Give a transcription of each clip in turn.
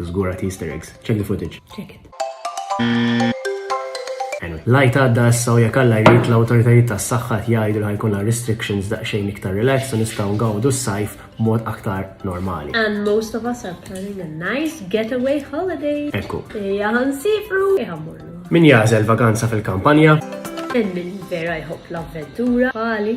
Żgur għad easter eggs. Check the footage. Check it. Anyway, lajt għadda issa u jekk Alla jrid l-awtoritajiet tas-saħħa jgħidu li ħajkunna restrictions daqsxejn iktar relax u nistgħu ngawdu s-sajf mod aktar normali. And most of us are planning a nice getaway holiday. Ekku. Ejja ħansifru, ejja mmorru. Min jażel vaganza fil-kampanja? Hemm min vera jħobb l-avventura, għali.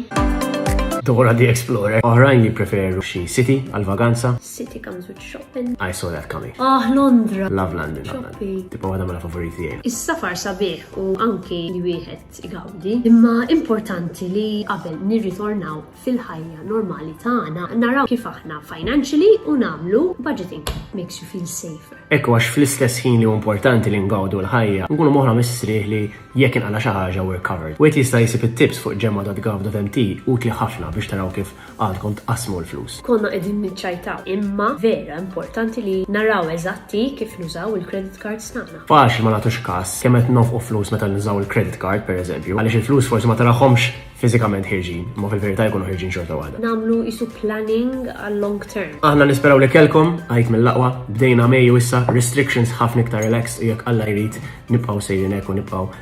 Dora the Explorer. Oħrajn jippreferu xi city għal vaganza. City comes with shopping. I saw that coming. Ah, Londra. Love London. Shopping. Tipo għada mela favoriti għaj. Is-safar sabiħ u anki li wieħed igawdi. Imma importanti li qabel nirritornaw fil-ħajja normali tagħna naraw kif aħna financially u namlu budgeting. Makes you feel safer. Ekku għax fl-istess ħin li importanti li ngawdu l-ħajja, nkunu moħra mistrieħ li jekk inqala xi ħaġa we're covered. Wieħed jista' jisib it-tips fuq ġemma.gov.mt utli ħafna biex taraw kif Għadkom tqassmu l-flus. Konna qegħdin niċċajtaw. Imma vera importanti li naraw eżatti kif nużaw il-credit cards tagħna. Faċli ma nagħtux każ kemm qed nofqu flus meta nużaw il-credit card pereżempju, għaliex il-flus forsi ma tarahomx fiżikament ħirġin, ma fil-verità jkunu ħirġin xorta waħda. Namlu isu planning għal long term. Aħna nisperaw li kelkom, għajt mill-laqwa, bdejna Mejju issa, restrictions ħafna iktar relaxed u jekk Alla jrid nibqgħu sejrin hekk u nibqgħu